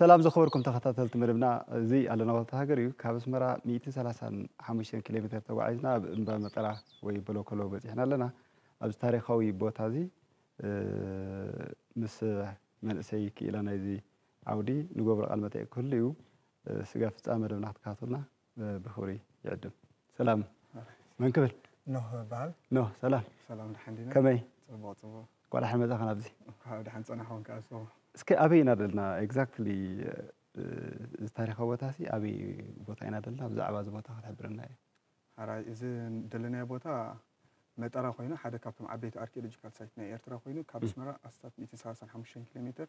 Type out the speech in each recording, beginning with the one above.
ሰላም ዝኸበርኩም ተኸታተልቲ መደብና እዚ ኣለና ቦታ ሃገር እዩ ካብ ኣስመራ ሚእትን ሰላሳን ሓሙሽተን ኪሎ ሜተር ተጓዒዝና ኣብ እምባ መጠራ ወይ በሎኮሎ በፂሕና ኣለና ኣብዚ ታሪኻዊ ቦታ እዚ ምስ መንእሰይ ክኢላ ናይዚ ዓውዲ ንገብሮ ቃል መጠይቅ ክህሉ እዩ ስጋ ፍፃመ መደብና ክትከታተሉና ብኽብሪ ይዕድም። ሰላም መን ክብል? ኖህ እበሃል። ኖህ ሰላም። ሰላም ደሓን ዲና? ከመይ? ጽቡቕ ጽቡቕ። እንኳዕ ደሓን መጻኻ ናብዚ። እንኳዕ ደሓን ጸናሕኩም ከኣ ንስኹም። እስከ ኣበይ ኢና ደልና ኤግዛክትሊ እዚ ታሪኻዊ ቦታሲ ኣበይ ቦታ ኢና ደልና ብዛዕባ እዚ ቦታ ክትሕብረና እየ። ሐራይ እዚ ደለናዮ ቦታ መጠራ ኮይኑ ሓደ ካብቶም ዓበይቲ ኣርኪኦሎጂካል ሳይት ናይ ኤርትራ ኮይኑ ካብ ኣስመራ ኣስታት ሚእትን ሰላሳን ሓሙሽተን ኪሎ ሜተር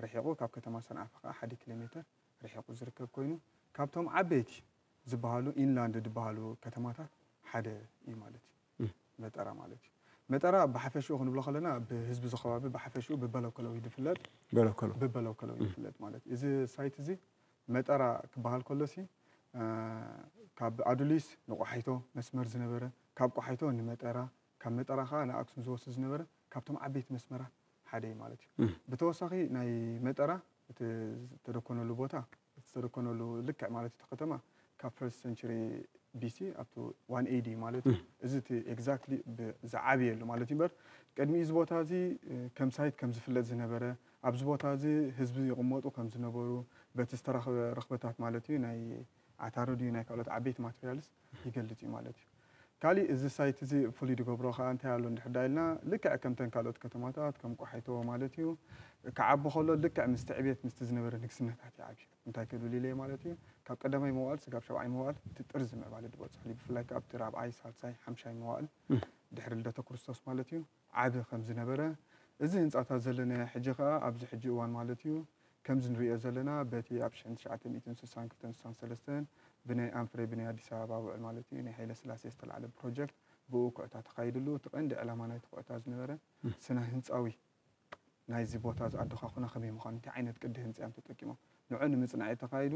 ርሒቑ ካብ ከተማ ሰንዓፈ ከኣ ሓደ ኪሎ ሜተር ርሒቑ ዝርከብ ኮይኑ ካብቶም ዓበይቲ ዝበሃሉ ኢንላንድ ዝበሃሉ ከተማታት ሓደ እዩ ማለት እዩ መጠራ ማለት እዩ። መጠራ ብሓፈሽኡ ክንብሎ ከለና ብህዝቢ እዚ ከባቢ ብሓፈሽኡ ብበለከሎ እዩ ዝፍለጥ በለከሎ ብበለከሎ እዩ ዝፍለጥ ማለት እዩ። እዚ ሳይት እዚ መጠራ ክበሃል ከሎሲ ካብ ኣዱሊስ ንቆሓይቶ መስመር ዝነበረ ካብ ቆሓይቶ ንመጠራ ካብ መጠራ ከኣ ንኣክሱም ዝወስድ ዝነበረ ካብቶም ዓበይቲ መስመራት ሓደ እዩ ማለት እዩ። ብተወሳኺ ናይ መጠራ እቲ ዝተደኮነሉ ቦታ እቲ ዝተደኮነሉ ልክዕ ማለት እቲ ከተማ ካብ ፈርስት ሰንቸሪ BC up to one AD ማለት እዩ። እዚ እቲ ኤግዛክትሊ ብ ዝዓብየሉ ማለት እዩ እምበር ቅድሚ እዚ ቦታ እዚ ከም ሳይት ከም ዝፍለጥ ዝነበረ ኣብዚ ቦታ እዚ ህዝቢ ይቕመጡ ከም ዝነበሩ በቲ ዝተረኽበ ርኽበታት ማለት እዩ ናይ ዓታሩ ድዩ ናይ ካልኦት ዓበይቲ ማትሪያልስ ይገልጽ እዩ ማለት እዩ። ካሊእ እዚ ሳይት እዚ ፍሉይ ዝገብሮ ከኣ እንታይ ኣሎ እንድሕር ደኣ ኢልና ልክዕ ከምተን ካልኦት ከተማታት ከም ቆሓይቶ ማለት እዩ ክዓቢ ከሎ ልክዕ ምስቲ ዕብየት ምስቲ ዝነበረ ንግስነታት ይዓብዩ እንታይ ክብል ኢለየ ማለት እዩ ካብ ቀዳማይ መዋእል ስጋብ ሻብዓይ መዋእል እቲ ጥርዚ ምዕባለ ዝበጽሕሉ ብፍላይ ከኣ ኣብቲ ራብዓይ ሳልሳይ ሓምሻይ መዋእል ድሕሪ ልደተ ክርስቶስ ማለት እዩ ዓቢ ከም ዝነበረ፣ እዚ ህንጻታት ዘለናዮ ሕጂ ከኣ ኣብዚ ሕጂ እዋን ማለት እዩ፣ ከምዚ ንርእዮ ዘለና በቲ ኣብ ሽሕን ትሽዓተ ሚእትን ስሳን ክልተን ስሳን ሰለስተን ብናይ ኣንፍሬ ብናይ ኣዲስ ኣበባ ውዕል ማለት እዩ ናይ ሃይለስላሴ ዝተላዕለ ፕሮጀክት ብእኡ ኩዕታ ተኻይድሉ እቲ ቀንዲ ዕላማ ናይቲ ኩዕታ ዝነበረ ስነ ህንጻዊ ናይዚ ቦታ ዝኣደዃኹና ከመይ ምዃኑ እንታይ ዓይነት ቅዲ ህንጻ እዮም ተጠቂሞም ንዑ ንምጽናዕ እዩ ተኻይዱ።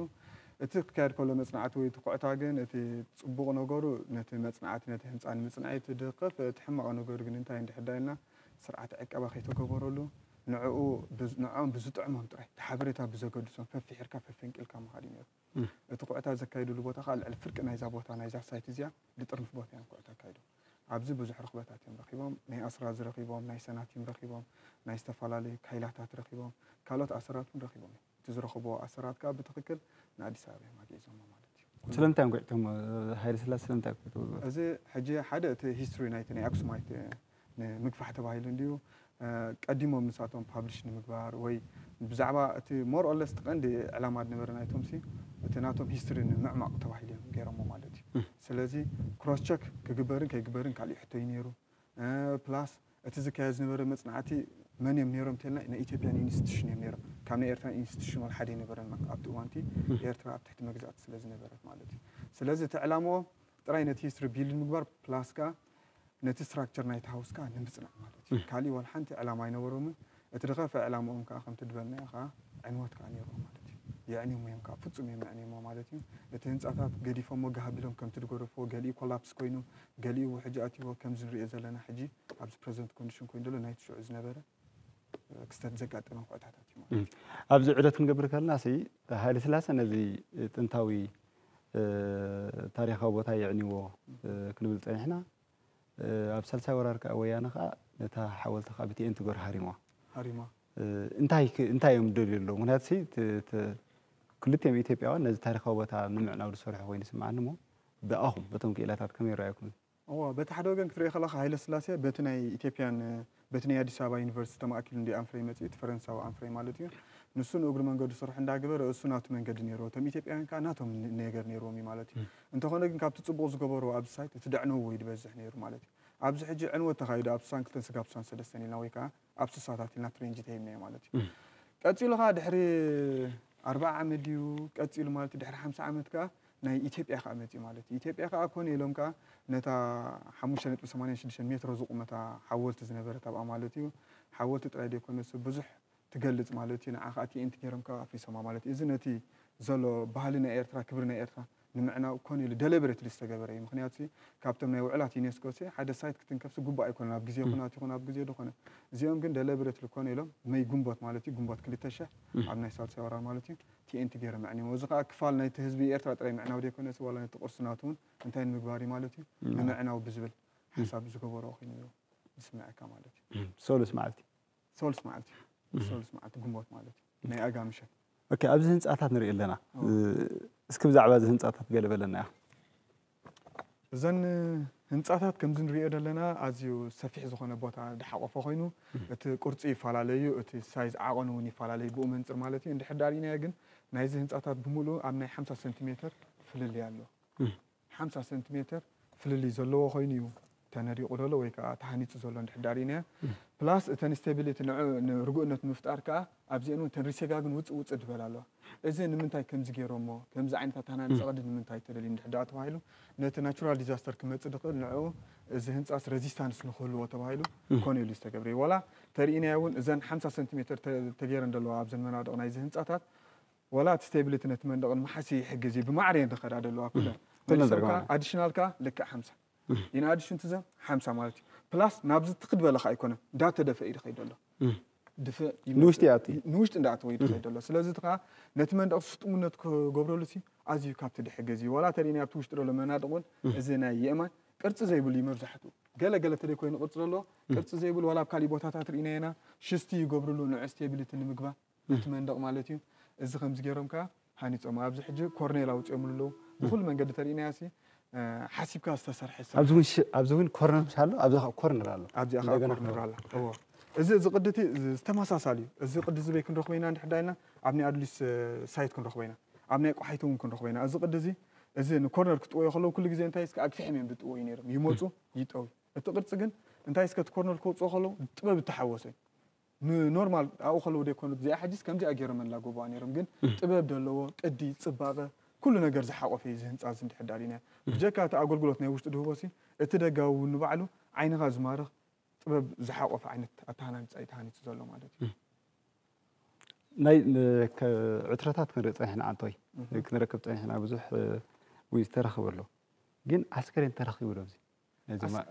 እቲ ክካየድ ከሎ መጽናዕቲ ወይ ትኩዕታ ግን እቲ ጽቡቕ ነገሩ ነቲ መጽናዕቲ ነቲ ህንጻ ንምጽናዕ እዩ ትድኽፍ። እቲ ሕማቕ ነገሩ ግን እንታይ እንድሕር ደኣ ኢልና ስርዓተ ዕቀባ ከይተገበረሉ ንዕኡ ንዕኦም ብዝጥዕሞም ጥራይ እቲ ሓበሬታ ብዘገድሶም ፈፊሒርካ ፈፈንቂልካ ምኻድ እዩ ነይሩ። እቲ ኩዕታ ዘካይድሉ ቦታ ከኣ ልዕሊ ፍርቂ ናይዛ ቦታ ናይዛ ሳይት እዚኣ ልጥርንፍ ቦታ እዮም ኩዕታ ኣካይዶም። ኣብዚ ብዙሕ ርኽበታት እዮም ረኺቦም። ናይ ኣስራዚ ረኺቦም፣ ናይ ሰናቲም ረኺቦም፣ ናይ ዝተፈላለዩ ካይላታት ረኺቦም፣ ካልኦት ኣሰራት እውን ረኺቦም እዮም። እቲ ዝረኸብዎ ኣሰራት ከኣ ብትኽክል ንኣዲስ ኣበባ እዮም ኣግዒዞሞ ማለት እዩ። ስለምንታይ እዮም ኣግዒቶሞ? ሃይለስላሴ ስለምንታይ ኣግዒቶሞ? እዚ ሕጂ ሓደ እቲ ሂስትሪ ናይቲ ናይ ኣክሱማይት ንምግፋሕ ተባሂሉ እንድዩ። ቀዲሞም ንሳቶም ፓብሊሽ ንምግባር ወይ ብዛዕባ እቲ ሞር ኦር ለስ እቲ ቀንዲ ዕላማ ዝነበረ ናይቶምሲ እቲ ናቶም ሂስትሪ ንምዕማቕ ተባሂሉ እዮም ገይሮሞ ማለት እዩ። ስለዚ ክሮስ ቸክ ክግበርን ከይግበርን ካሊእ ሕቶ እዩ ነይሩ። ፕላስ እቲ ዝካየድ ዝነበረ መፅናዕቲ መን እዮም ነይሮም እንተልና ናይ ኢትዮጵያን ኢንስቲቱሽን እዮም ነይሮም። ካብ ናይ ኤርትራ ኢንስቲቱሽን ዋላ ሓደ ኣይነበረን ኣብቲ እዋን እቲ ኤርትራ ኣብ ትሕቲ መግዛእቲ ስለዝነበረት ማለት እዩ። ስለዚ እቲ ዕላምኦም ጥራይ ነቲ ሂስትሪ ቢልድ ምግባር ፕላስ ከዓ ነቲ ስትራክቸር ናይቲ ሃውስ ከኣ ንምጽናዕ ማለት እዩ። ካሊእ ዋላ ሓንቲ ዕላማ ኣይነበሮምን። እቲ ድኸፍኣ ዕላምኦም ከኣ ከምቲ ድበልናዮ ከኣ ዕንወት ከኣ ኔርዎ ማለት እዩ። የዕንዮሞ እዮም ከኣ ፍጹም እዮም ኣዕንዮሞ ማለት እዩ። እቲ ህንጻታት ገዲፎሞ ጋህ ኣቢሎም ከምቲ ድገደፍዎ ገሊኡ ኮላፕስ ኮይኑ ገሊኡ ውሕጅ ኣትይዎ ከምዚ ንርእዮ ዘለና ሕጂ ኣብዚ ፕረዘንት ኮንድሽን ኮይኑ ደሎ ናይቲ ሽዑ ዝነበረ ክስተት ዘጋጠመ ኩዕታታት እዩ ማለት ኣብዚ ዑደት ክንገብር ከለና ሲ ሃይለ ስላሰ ነዚ ጥንታዊ ታሪኻዊ ቦታ የዕንዎ ክንብል ጸኒሕና ኣብ ሳልሳይ ወራር ከዓ ወያነ ከዓ ነታ ሓወልቲ ከዓ ብቲኤን ትገር ሃሪሟ ሃሪማ እንታይ ክ- እንታይ እዮም ደልዩ ኣለዉ ምክንያቱ ሲ ት- ት- ክልቲኦም ኢትዮጵያውያን ነዚ ታሪኻዊ ቦታ ንምዕናው ዝሰርሑ ኮይኑ ይስምዓኒ እሞ ብኣኹም በቶም ክኢላታት ከመይ ይረኣየኩም እወ በቲ ሓደ ወገን ክትሪኦ ከለኻ ሃይለ ስላሴ በቲ ናይ ኢትዮጵያን በቲ ናይ ኣዲስ ኣበባ ዩኒቨርሲቲ ተማእኪሉ እንድዩ ኣንፍሬ መጺኡ እቲ ፈረንሳዊ ኣንፍሬ ማለት እዩ ንሱ ንእግሪ መንገዱ ስርሑ እንዳገበረ እሱ ናቱ መንገዲ ነይርዎ እቶም ኢትዮጵያውያን ከኣ ናቶም ነገር ነይርዎም እዩ ማለት እዩ እንተኾነ ግን ካብቲ ጽቡቕ ዝገበርዎ ኣብዚ ሳይት እቲ ደዕነውዎ እዩ ድበዝሕ ነይሩ ማለት እዩ ኣብዚ ሕጂ ዕንወት ተኻይዱ ኣብ ስሳን ክልተን ስጋብ ስሳን ሰለስተን ኢልና ወይ ከኣ ኣብ ስሳታት ኢልና ትሬንጂ ተሂብናዮ ማለት እዩ ቀጺሉ ከኣ ድሕሪ ኣርብዓ ዓመት ድዩ ቀጺሉ ማለት ድሕሪ ሓምሳ ዓመት ከኣ ናይ ኢትዮጵያ ከኣ መጺኡ ማለት እዩ። ኢትዮጵያ ከኣ ኮነ ኢሎም ከኣ ነታ ሓሙሽተ ነጥቢ ሰማንያ ሽዱሽተ ሜትሮ ዝቑመታ ሓወልቲ ዝነበረት ኣብኣ ማለት እዩ። ሓወልቲ ጥራይ ደይኮነትሲ ብዙሕ ትገልጽ ማለት እዩ። ንዓ ከኣ ቲኤንቲ ገይሮም ከኣ ኣፍሪሶማ ማለት እዩ። እዚ ነቲ ዘሎ ባህሊ ናይ ኤርትራ ክብሪ ናይ ኤርትራ ንምዕናው ኮነ ኢሉ ደለበረትሊ ዝተገበረ እዩ። ምኽንያቱሲ ካብቶም ናይ ውዕላት ዩኔስኮሲ ሓደ ሳይት ክትንከፍሲ ግቡእ ኣይኮነን ኣብ ግዜ ኩናት ይኹን ኣብ ግዜ ደኾነ። እዚኦም ግን ደለበረትሊ ኮነ ኢሎም መይ ግንቦት ማለት እዩ ግንቦት ክልተ ሽሕ ኣብ ናይ ሳልሳይ ወራር ማለት እዩ ቲኤንቲ ገይሮም ኣዕኒሞም። እዚ ከኣ ክፋል ናይቲ ህዝቢ ኤርትራ ጥራይ ምዕናው ዘይኮነስ ዋላ ነቲ ቅርሱ ናቱ እውን እንታይ ንምግባር እዩ ማለት እዩ ንምዕናው ብዝብል ሓሳብ ዝገበሮ ኮይኑ እዩ ዝስመዐካ ማለት እዩ። ሰሉስ መዓልቲ። ሰሉስ መዓልቲ እዩ። ሰሉስ መዓልቲ ግንቦት ማለት እዩ። ናይ ኣጋ ምሸት። ኦኬ ኣብዚ ህንጻታት ንርኢ ኣለና። እስኪ ብዛዕባ እዚ ህንጻታት ገለ በለና ኢኻ። እዘን ህንፃታት ከምዚ ንሪኦ ዘለና ኣዝዩ ሰፊሕ ዝኾነ ቦታ ዝሓቖፈ ኮይኑ እቲ ቅርፁ ይፈላለ እዩ፣ እቲ ሳይዝ ዓቐኑ እውን ይፈላለ እዩ ብኡ መንፅር ማለት እዩ። እንድሕር ዳኣ ሪኢናዮ ግን ናይዚ ህንፃታት ብምሉኡ ኣብ ናይ ሓምሳ ሰንቲሜተር ፍልልይ ኣሎ። ሓምሳ ሰንቲሜተር ፍልልይ ዘለዎ ኮይኑ እዩ ተነዲቁ ዘሎ ወይ ከኣ ተሃኒጹ ዘሎ እንድሕር ድኣ ሪኢናዮ ፕላስ እተን ስቴቢሊቲ ንዑ ንርጉእነት ምፍጣር ከኣ ኣብዚኤን ውን እተን ሪሴጋ ግን ውጽእ ውጽእ ድበላ ኣለዋ እዚ ንምንታይ ከምዚ ጌሮሞ ከምዚ ዓይነት ኣተሃናንጻ ቅዲ ንምንታይ ተደልዩ እንድሕር ድኣ ተባሂሉ ነቲ ናቹራል ዲዛስተር ክመጽእ ድኽእል ንዑ እዚ ህንጻስ ረዚስታንስ ንኽህልዎ ተባሂሉ ኮነ ኢሉ ዝተገብረ እዩ ዋላ ተሪኢናዮ ውን እዘን ሓምሳ ሰንቲሜተር ተ ተጌረን ደለዋ ኣብዘን መናድቕ ናይዚ ህንጻታት ዋላ እቲ ስቴቢሊቲ ነቲ መንደቕ ንምሓዝ ይሕግዝ እዩ ብማዕረ እየን ድኸዳ ደለዋ ኩለን መልሰን ከኣ ኣዲሽናል ከኣ ልክዕ ሓምሳ ኢን ኣድሽን ቱ ዘም ሓምሳ ማለት እዩ ፕላስ ናብዚ ትክድ በለ ከዓ ኣይኮነን እንዳተደፈ እዩ ዝኸይድ ዘሎ ንውሽጢ ይኣቱ ንውሽጢ እንዳኣተወ እዩ ዝኸይድ ዘሎ ስለዚ እቲ ከዓ ነቲ መንደቕ ስጡምነት ክገብረሉ ሲ ኣዝዩ ካብቲ ድሕግዝ እዩ ዋላ ተሪእናዮ ኣብቲ ውሽጢ ዘሎ መናድቕ እውን እዚ ናይ የእማን ቅርፂ ዘይብሉ እዩ መብዛሕትኡ ገለ ገለ ተደይ ኮይኑ ቅርፂ ዘለዎ ቅርፂ ዘይብሉ ዋላ ኣብ ካሊእ ቦታታት ርኢናዮ ኢና ሽስቲ ይገብርሉ ንዑ ስቴቢሊቲ ንምግባር በቲ መንደቕ ማለት እዩ። እዚ ከምዚ ገይሮም ከኣ ሃኒጾማ። ኣብዚ ሕጂ ኮርኔል ኣውጺኦምሉ ኣለዉ። ብኹሉ መንገዲ ተርኢናዮሲ ሓሲብካ ዝተሰርሐ ስራሕ እዩ። ኣብዚ እውን ኮርነር ኣሎ፣ ኣብዛ ከኣ ኮርነር ኣሎ። ኣብዚኣ ከኣ ኮርነር ኣላ። እወ። እዚ እዚ ቅዲ እቲ ዝተመሳሳሊ እዩ። እዚ ቅዲ እዚ በይ ክንረኽቦ ኢና እንድሕር ደኣ ኢልና ኣብ ናይ ኣዱሊስ ሳይት ክንረኽቦ ኢና። ኣብ ናይ ቆሓይቶ እውን ክንረኽቦ ኢና። እዚ ቅዲ እዚ እዚ ንኮርነር ክጥወዮ ከለዉ ኩሉ ግዜ እንታይ እስከ ኣግፊሕም እዮም ዝጥወዩ ነይሮም። ይመጹ ይጠውዩ። እቲ ቅርጺ ግን እንታይ እስከ እቲ ኮርነር ከውጽኦ ከለዉ ጥበብ ዝተሓወሶ እዩ። ን ኖርማል ኣብኡ ከለዉ ደይኮኑ እዚኣ ሕጂስ ከምዚኣ ጌሮም የላጎቡዋ ኔሮም ግን ጥበብ ደለዎ ቅዲ ጽባቀ ኩሉ ነገር ዝሓቆፈ እዩ እዚ ህንጻ እዚ እንድሕር ኣሊናዮ ብጀካ እቲ ኣጎልጉሎት ናይ ውሽጢ ድህቦ ሲ እቲ ደጋዊ ውን ንባዕሉ ዓይንካ ዝማርኽ ጥበብ ዝሓቆፈ ዓይነት ኣተሃናንጻ እዩ ተሃኒጹ ዘሎ ማለት እዩ። ናይ ዕትረታት ክንርኢ ጸኒሕና ኣንቶይ ክንረክብ ጸኒሕና ብዙሕ ውን ዝተረኽበ ኣሎ ግን ኣስከሬን ተረኺቡ ዶ ኣብዚ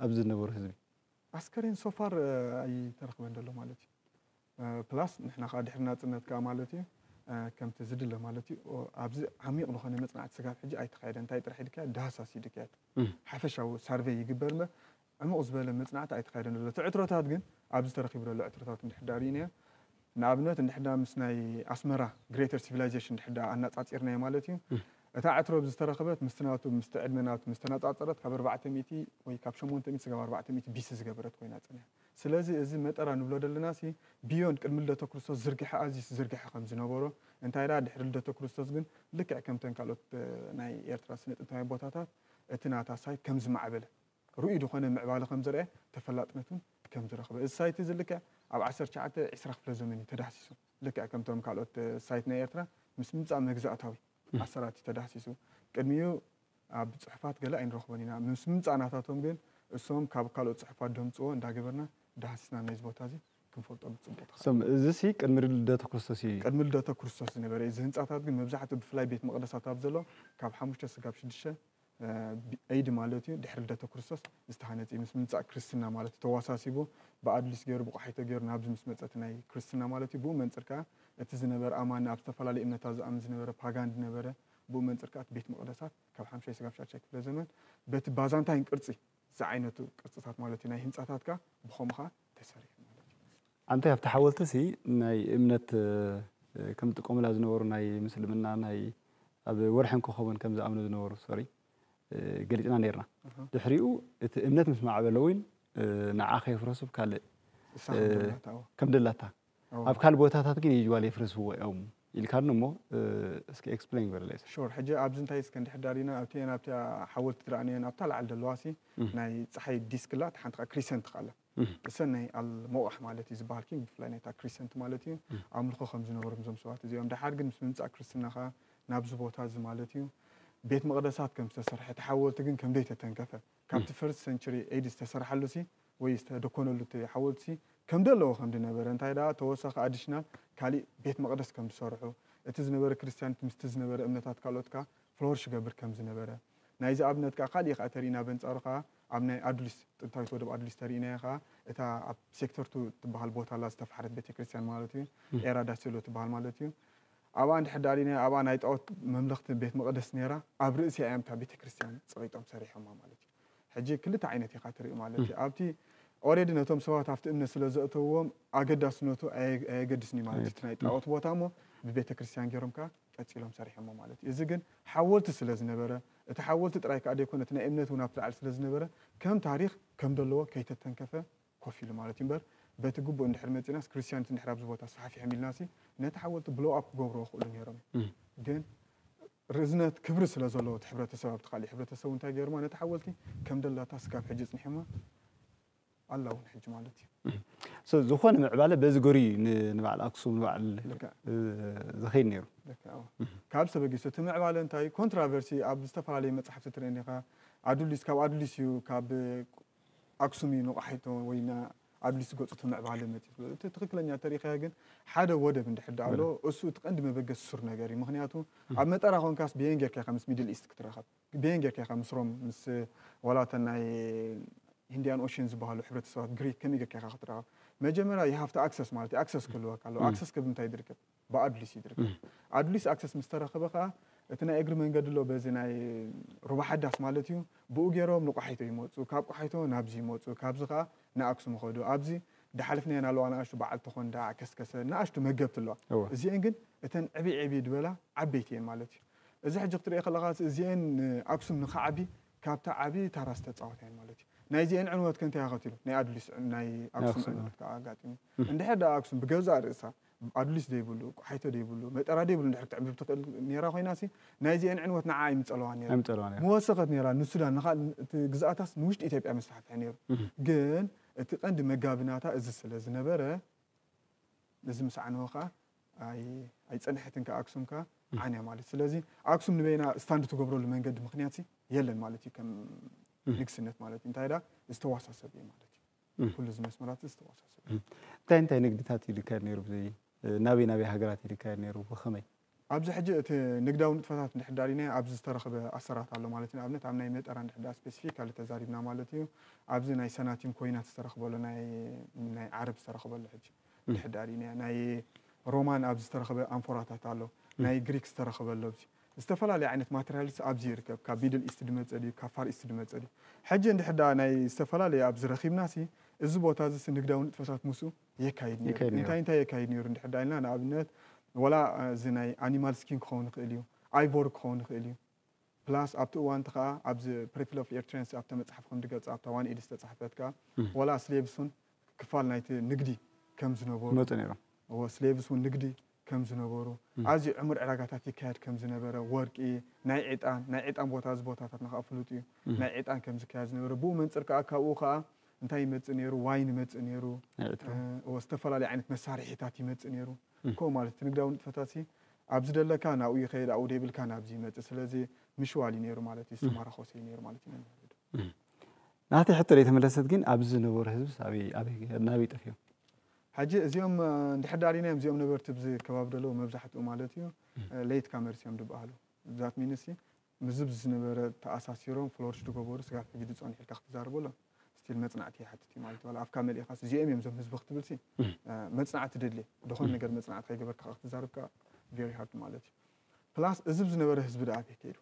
ኣብዚ ዝነበሩ ህዝቢ ኣስከሬን so far ኣይተረኽበን ዘሎ ማለት እዩ plus ንሕና ከኣ ድሕሪ ናጽነት ከኣ ማለት እዩ ከምቲ ዝድለ ማለት እዩ ኣብዚ ዓሚቕ ዝኾነ መጽናዕቲ ስጋብ ሕጂ ኣይተኻየደን እንታይ ጥራሕ ይድካየድ ዳህሳስ ይድካየድ ሓፈሻዊ ሳርቨይ ይግበር እምበር ዕሙቕ ዝበለ መጽናዕቲ ኣይተኻየደን ዘሎ እቲ ዕትሮታት ግን ኣብዚ ተረኺቡ ዘሎ ዕትሮታት እንድሕር ዳኣ ሪኢናዮ ንኣብነት እንድሕዳ ምስ ናይ ኣስመራ ግሬተር ሲቪላይዜሽን እንድሕዳ ኣናጻጺርናዮ ማለት እዩ እታ ዕትሮ ብ ዝተረኽበት ምስቲ ናቱ ምስቲ ዕድመ ናቱ ምስ ተናጻጸረት ካብ ኣርባዕተ ሚእቲ ወይ ካብ ሸሞንተ ሚእቲ ስጋብ ኣርባዕተ ሚእቲ ቢሲ ዝገበረት ኮይና ጸኒሓ ስለዚ እዚ መጠራ ንብሎ ደለናሲ ብዮንድ ቅድሚ ልደተ ክርስቶስ ዝርግሐ ኣዝዩ ዝዘርገሐ ከም ዝነበሮ እንታይ ደኣ ድሕሪ ልደተ ክርስቶስ ግን ልክዕ ከምተን ካልኦት ናይ ኤርትራ ስነ ጥንታውያን ቦታታት እቲ ናታ ሳይት ከም ዝማዕበለ ርኡይ ዝኾነ ምዕባለ ከምዘርኣየ ተፈላጥነት እውን ከምዝረኽበ እዚ ሳይት እዚ ልክዕ ኣብ ዓሰርተ ትሽዓተ ዕስራ ክፍለ ዘመን እዩ ተዳህሲሱ ልክዕ ከምቶም ካልኦት ሳይት ናይ ኤርትራ ምስ ምምጻእ መግዛእታዊ ኣሰራት እዩ ተዳህሲሱ ቅድሚኡ ኣብ ጽሑፋት ገለ ኣይንረኽቦን ኢና ምስ ምምጻእ ናታቶም ግን እሶም ካብ ካልኦት ጽሑፋት ደምጽዎ እንዳገበርና ዳህሲስና ነዚ ቦታ እዚ ክንፈልጦ ብጽቡቕ ተኸእለ። እዚሲ ቅድሚ ልደተ ክርስቶስ እዩ። ቅድሚ ልደተ ክርስቶስ ዝነበረ እዩ እዚ ህንጻታት ግን መብዛሕትኡ ብፍላይ ቤት መቕደሳት ኣብ ዘሎ ካብ ሓሙሽተ ስጋብ ሽዱሽተ ብኤይድ ማለት እዩ ድሕሪ ልደተ ክርስቶስ ዝተሃነጽ እዩ ምስ ምምጻእ ክርስትና ማለት እዩ ተዋሳሲቡ ብኣድሊስ ገሩ ብቆሓይቶ ገሩ ናብዚ ምስ መጸ እቲ ናይ ክርስትና ማለት እዩ ብኡ መንጽር ከኣ እቲ ዝነበረ ኣማኒ ኣብ ዝተፈላለየ እምነታት ዝኣምን ዝነበረ ፓጋን ድነበረ ብኡ መንጽር ከኣ እቲ ቤት መቅደሳት ካብ ሓምሻይ ስጋብ ሻድሻይ ክፍለ ዘመን በቲ ባዛንታይን ቅርጺ ዝዓይነቱ ቅርጽታት ማለት እዩ ናይ ህንጻታት ከኣ ብከምኡ ከኣ ተሰሪሑ ማለት እዩ። ኣንታይ ኣብቲ ሓወልቲ ሲ ናይ እምነት ከም ዝጥቀሙላ ዝነበሩ ናይ ምስልምና ናይ ኣብ ወርሕን ኮኾብን ከም ዝኣምኑ ዝነበሩ ሶሪ ገሊጽና ኔርና ድሕሪኡ እቲ እምነት ምስ ማዕበለ ዊን ንዓ ከየፍረሱ ብ ካልእ ከም ደላታ ኣብ ካልእ ቦታታት ግን ዩዥዋል የፍርስዎ እዮም ኢልካኒ እሞ እስኪ ኤክስፕለይን ግበረለይ እስኪ። ሹር ሕጂ ኣብዚ እንታይ እስከ እንድሕር ዳሊና ኣብቲኤን ኣብታ ሓወልቲ ትረኣኒኤን ኣብታ ላዕሊ ዘለዋ ሲ ናይ ጸሓይ ዲስክ ኣላ እታ ሓንቲ ከኣ ክሪሰንት ከኣ ኣላ ሰናይ ኣል ሞቓሕ ማለት እዩ ዝበሃል ኪንግ ብፍላይ ናይታ ክሪሰንት ማለት እዩ ኣምልኾ ከም ዝነበሮም እዞም ሰባት እዚኦም ደሓር ግን ምስ ምምፃእ ክርስትና ከዓ ናብዚ ቦታ እዚ ማለት እዩ ቤት መቕደሳት ከም ዝተሰርሐ እቲ ሓወልቲ ግን ከምደይ ተተንከፈ ካብቲ ፈርስት ሰንቸሪ ኤዲ ዝተሰርሓሉ ሲ ወይ ዝተደኮነሉ እቲ ሓወልቲ ሲ ከምደ ኣለዎ ከምዲ ነበረ እንታይ ደኣ ተወሳኺ ኣዲሽናል ካሊእ ቤት መቕደስ ከም ዝሰርሑ እቲ ዝነበረ ክርስቲያኒት ምስቲ ዝነበረ እምነታት ካልኦት ከዓ ፍሎርሽ ይገብር ከም ዝነበረ ናይዚ ኣብነት ከዓ ካሊእ ከዓ ተሪኢና በንፃሩ ከዓ ኣብ ናይ ኣዱሊስ፣ ጥንታዊት ወደብ ኣዱሊስ ተሪኢናያ ከኣ እታ ኣብ ሴክተርቱ ትበሃል ቦታ ኣላ ዝተፋሕረት ቤተክርስትያን ማለት እዩ። ኤራ ዳሴሎ ትበሃል ማለት እዩ። ኣብኣ እንድሕር ደኣ ሪኢናያ ኣብኣ ናይ ጣኦት መምለኽቲ ቤት መቐደስ ነይራ። ኣብ ርእሲኣ እዮም እታ ቤተክርስትያን ጸቒጦም ሰሪሖማ ማለት እዩ። ሕጂ ክልተ ዓይነት ኢኻ ትርኢ ማለት እዩ። ኣብቲ ኦሬዲ ነቶም ሰባት ኣብቲ እምነት ስለ ዘእተውዎም ኣገዳስነቱ ኣየገድስን እዩ ማለት እዩ። እቲ ናይ ጣኦት ቦታ እሞ ብቤተክርስትያን ገይሮም ከኣ ቀጺሎም ሰሪሖሞ ማለት እዩ። እዚ ግን ሓወልቲ ስለ ዝነበረ እቲ ሓወልቲ ጥራይ ከኣ ደይኮነ እቲ ናይ እምነት እውን ኣብቲ ላዕሊ ስለ ዝነበረ ከም ታሪኽ ከም ደለዎ ከይተተንከፈ ኮፍ ኢሉ ማለት እዩ እምበር በቲ ግቡእ እንድሕር መጺእናስ ክርስትያኒቲ እንድሕር ኣብዚ ቦታ ኣስፋሕፊሖም ኢልናሲ ነቲ ሓወልቲ ብሎው ኣፕ ክገብርዎ ይኽእሉ ነይሮም እዮም ግን ርዝነት ክብሪ ስለ ዘለዎ እቲ ሕብረተሰብ ኣብቲ ካሊእ ሕብረተሰብ እንታይ ገይሮማ ነቲ ሓወልቲ ከም ደላታ ስካብ ሕጂ ጽኒሖማ ኣላ ውን ሕጂ ማለት እዩ። So ዝኾነ ምዕባለ በዚ ገሩ እዩ ን ንበዓል ኣክሱም ንበዓል ልክዕ። እ ዝኸይድ ነይሩ። ልክዕ ኣዎ። ካብ ተበጊሱ እቲ ምዕባለ እንታይ እዩ ኮንትራቨርሲ ኣብ ዝተፈላለየ መጻሕፍቲ ትርእየኒ ኢኻ ኣዱሊስ ካብ ኣዱሊስ እዩ ካብ ኣክሱም እዩ ንቆሓይቶ ወይ ን ኣዱሊስ ዝገጹ እቲ ምዕባለ መጺኡ ዝብሎ እቲ ትኽክለኛ እንተሪእኻዮ ግን ሓደ ወደብ እንድሕር ድኣ ኣሎ እሱ እቲ ቀንዲ መበገሲ ሱር ነገር እዩ ምኽንያቱ ኣብ መጠራ ኮንካስ ብየን ጌርካ ኢኻ ምስ ሚድል ኢስት ክትራኸብ። በየን ጌርካ ኢኻ ምስ ሮም ምስ ዋላ እተን ናይ ሂንድያን ኦሽን ዝበሃሉ ሕብረተሰባት ግሪክ ከመይ ጌርካ ኢኻ ክትራኸብ መጀመርያ you have to access ማለት እዩ ኣክሰስ ክህልወካ ኣለዎ ኣክሰስ ክብ እንታይ ዝርከብ ብኣዱሊስ እዩ ዝርከብ ኣዱሊስ ኣክሰስ ምስ ተረኸበ ከዓ እቲ ናይ እግሪ መንገዲ ኣሎ በዚ ናይ ሩባ ሓዳስ ማለት እዩ ብኡ ገይሮም ንቋሓይቶ ይመፁ ካብ ቋሓይቶ ናብዚ ይመፁ ካብዚ ከዓ ንኣክሱም ይኸዱ ኣብዚ ዳሓለፍናዮ ናለዋ ንኣሽቱ በዓል ተኾንዳ ዓከስከሰ ንኣሽቱ መገብቲ ኣለዋ እዚአን ግን እተን ዕብይ ዕብይ ዝበላ ዓበይቲ እየን ማለት እዩ እዚ ሕጂ ክትርእዮ ከለኻስ እዚኤን ንኣክሱም ንኽዓቢ ካብቲ ዓቢ ታራ ዝተጻወታ እየን ማለት እዩ። ናይ እዚኤን ዕንወት ከ እንታይ ኣኸቲሉ? ናይ ኣዱሊስ ናይ ናይ ኣክሱም ኣክሱም ዕንወት ከኣ ኣጋጢሙ። እንድሕር ደኣ ኣክሱም ብገዛእ ርእሳ ኣዱሊስ ዘይብሉ፣ ቆሓይቶ ዘይብሉ፣ መጠራ ዘይብሉ እንድሕር ክትዕምብብ ትኽእል ኔራ ኮይናሲ ናይ እዚኤን ዕንወት ንዓኣ ኣይምጸለዋን ኔሩ። ኣይምጸለዋን ኔሩ። ምወሰኸት ኔራ ንሱዳን ንኻልእ እቲ ግዝኣታስ ንውሽጢ ኢትዮጵያ መስፋሕፍሒ ኔሩ። ግን እቲ ቀንዲ መጋቢ ናታ እዚ ስለ ዝነበረ እዚ ምስ ዓነወ ከኣ ኣይ ኣይጸንሐትን ከኣ ኣክሱም ከኣ ዓንያ ማለት ስለዚ ኣክሱም ንበይና ስታንድ ትገብረሉ መንገዲ ምክንያት ሲ የለን ማለት እዩ ከም ንግስነት ማለት እዩ እንታይ ዳ ዝተዋሳሰብ እዩ ማለት እዩ ኩሉ እዚ መስመራት ዝተዋሳሰብ እዩ እንታይ እንታይ ንግድታት እዩ ዝካየድ ነይሩ ብዘይ ናበይ ናበይ ሃገራት እዩ ዝካየድ ነይሩ ብኸመይ ኣብዚ ሕጂ እቲ ንግዳዊ ንጥፈታት እንድሕር ዳሪናዮ ኣብዚ ዝተረኽበ ኣሰራት ኣሎ ማለት እዩ ንኣብነት ኣብ ናይ መጠራ እንድሕር ዳ ስፔሲፊካሊ ተዛሪብና ማለት እዩ ኣብዚ ናይ ሰናቲም ኮይናት ዝተረኽበሉ ናይ ናይ ዓረብ ዝተረኽበሉ ሕጂ ምምሕዳር እዩ። ናይ ሮማን ኣብዚ ዝተረኽበ ኣንፎራታት ኣሎ፣ ናይ ግሪክ ዝተረኽበ ኣሎ። ኣብዚ ዝተፈላለየ ዓይነት ማተርያልስ ኣብዚ ይርከብ። ካብ ሚድል ኢስት ዝመጸ ድዩ ካብ ፋር ኢስት ዝመጸ ድዩ? ሕጂ እንድሕር ደኣ ናይ ዝተፈላለየ ኣብዚ ረኺብናሲ እዚ ቦታ እዚሲ ንግዳዊ ንጥፈታት ምስኡ የካይድ ነይሩ። ይከይድ ነይሩ። እንታይ እንታይ የካይድ ነይሩ እንድሕር ደኣ ኢልና ንኣብነት ዋላ እዚ ናይ ኣኒማል ስኪን ክኸውን ይኽእል እዩ፣ ኣይቮሪ ክኸውን ይኽእል እዩ። ፕላስ ኣብቲ እዋን እቲ ከኣ ኣብዚ ፕሪፕል ኦፍ ኤርትርያንስ ኣብታ መጽሓፍ ከም ድገልጻ ኣብታ ዋን ኢድ ዝተጻሕፈት ከኣ ዋላ ስሌቭስ ውን ክፋል ናይቲ ንግዲ ከም ዝነበሩ ይመጹ ነይሮም። እወ ስሌቭስ ውን ንግዲ ከም ዝነበሩ ኣዝዩ ዕሙር ዕዳጋታት ይካየድ ከም ዝነበረ ወርቂ ናይ ዕጣን ናይ ዕጣን ቦታ እዚ ቦታታትና ከኣ ፍሉጥ እዩ ናይ ዕጣን ከም ዝካየድ ዝነበረ ብኡ መንጽር ከኣ ካብኡ ከኣ እንታይ ይመጽእ ነይሩ ዋይን ይመጽእ ነይሩ ናይ ዕትሮ እወ ዝተፈላለየ ዓይነት መሳርሒታት ይመጽእ ነይሩ። እኮ ማለት እቲ ንግዳዊ ንጥፈታት ሲ ኣብ ዝደለካ ናብኡ ይኸይድ ኣብኡ ደይብልካ ናብዚ ይመጽእ ስለዚ ምሽዋል እዩ ነይሩ ማለት እዩ ዝተማራኾሰ እዩ ነይሩ ማለት እዩ መምህር ዶ ናተይ ሕቶ ደይተመለሰት ግን ኣብዚ ዝነበሩ ህዝብስ ኣበይ ኣበይ ናበይ ጠፊኦም ሕጂ እዚኦም እንድሕር ዳሪናዮም እዚኦም ነበርቲ ብዚ ከባቢ ደለዉ መብዛሕትኡ ማለት እዩ ለይት ካመርስ እዮም ድበሃሉ ዛት ሚንስ ምስዚ ብዚ ዝነበረ ተኣሳሲሮም ፍሎርሽ ድገበሩ ስጋብ ሕጂ ድጸንሑ ኢልካ ክትዛረቦ ሎም ስቲል መጽናዕቲ ይሓትት እዩ ማለት እዩ ዋላ ኣፍካ መሊእካስ እዚኦም እዮም እዞም ህዝቢ ክትብል ሲ መጽናዕቲ ደድሌ ድኮነ ነገር መጽናዕቲ ከይገበርካ ከኣ ክትዛረብ ከኣ ቨሪ ሃርድ ማለት እዩ ፕላስ እዚ ብዝነበረ ህዝቢ ደኣ ኣበይ ከይዱ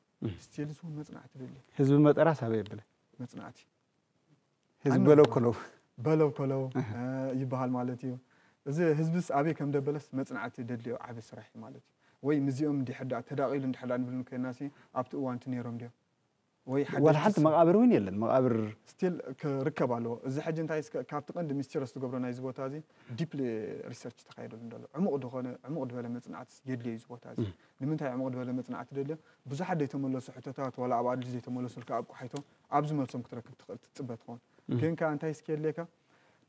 ስቲል ዝውን መጽናዕቲ ደድሌ ህዝቢ መጠራስ ኣበይ ኣብለ መጽናዕቲ ህዝቢ በለው ኮለው በለው ኮለው ይበሃል ማለት እዩ። እዚ ህዝብስ ኣበይ ከም ደበለስ መጽናዕቲ ደድልዮ ዓቢ ስራሕ እዩ ማለት እዩ። ወይ ምስዚኦም እንድሕር ደኣ ተዳቒሉ እንድሕር ደኣ ንብልን ኮይናሲ ኣብቲ እዋንቲ ነይሮም ድዮም? ወይ ሓደሽቲ ዋላ ሓንቲ መቓብር እውን የለን መቓብር ስቲል ክርከብ ኣለዎ። እዚ ሕጂ እንታይ እስከ ካብቲ ቀንዲ ሚስቲረስ ዝገብሮ ናይዚ ቦታ እዚ ዲፕሊ ሪሰርች ተኻይደሉ እንዶሎ ዕሙቕ ዝኾነ ዕሙቕ ድበለ መጽናዕቲ የድልዮ እዩ እዚ ቦታ እዚ። ንምንታይ ዕሙቕ ድበለ መጽናዕቲ ደልዮ ብዙሓት ዘይተመለሱ ሕቶታት ዋላ ኣብ ኣድልዩ ዘይተመለሱልካ ኣብ ቆሓይቶ ኣብ ዝመልሶም ክትረክብ ትኽእል ትጽበ ትኸውን። ግን ከኣ እንታይ እስኪ የድልየካ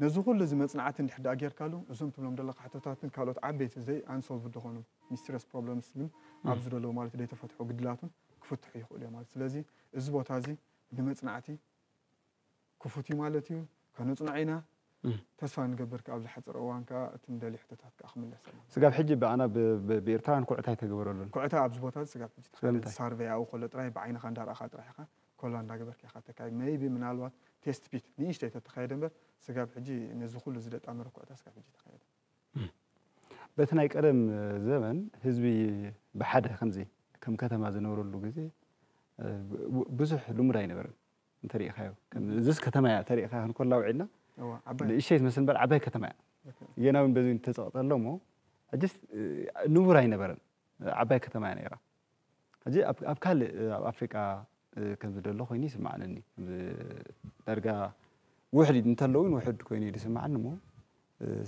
ነዚ ኩሉ እዚ መጽናዕቲ እንድሕር ደኣ ጌርካሉ እዞም ትብሎም ዘለኻ ሕቶታትን ካልኦት ዓበይቲ ዘይ ኣንሶልቭድ ዝኾኑ ሚስቲረስ ፕሮብለምስ ግን ኣብዚ ዘለዉ ማለት ደይተፈትሑ ግድላቱን ክፍትሑ ይኽእሉ እዮም ማለት ስለዚ እዚ ቦታ እዚ ንመጽናዕቲ ክፉት እዩ ማለት እዩ። ከነጽንዖ ኢና ተስፋ ንገብር ክኣ ኣብ ዝሓጸረ እዋን ክኣ እቲ ንደልዮ ሕቶታት ክኣ ክምለሰልና። ስጋብ ሕጂ ብኣና ብ ብኤርትራውያን ኩዕታ ኣይተገበረሉን። ኩዕታ ኣብዚ ቦታ እዚ ስጋብ ሕጂ ተኻይዱ ሳርቨይ ኣብኡ ከሎ ጥራይ ብዓይንኻ እንዳ ራኣኻ ጥራሕ ኢኻ ኮላ እንዳ ገበርካ ኢኻ ተካይድ መይቢ ምናልባት ቴስት ፒት ንእሽተይ ተተኻየደ እምበር ስጋብ ሕጂ ነዚ ኩሉ ዝደጣመረ ኩዕታ ስጋብ ሕጂ ኣይተኻየደን። በቲ ናይ ቀደም ዘበን ህዝቢ ብሓደ ከምዚ ከም ከተማ ዝነብረሉ ግዜ ብዙሕ ልሙድ ኣይነበረን። እንተሪኢኻዮ ከም እዚስ ከተማ እያ ተሪኢኻ ክንኮላ ውዒልና ንእሽተይ ትመስል እምበር ዓባይ ከተማ እያ ጌና እውን በዚ ተፀቕጠሎ እሞ ሕጅስ ንቡር ኣይነበረን ዓባይ ከተማ እያ ነይራ ሕጂ ኣብ ካልእ ኣብ ኣፍሪቃ ከም ዝደሎ ኮይኑ ይስማዓለኒ ዳርጋ ውሕድ እንተለውን ውሕድ ኮይኑ እዩ ዝስማዓኒ እሞ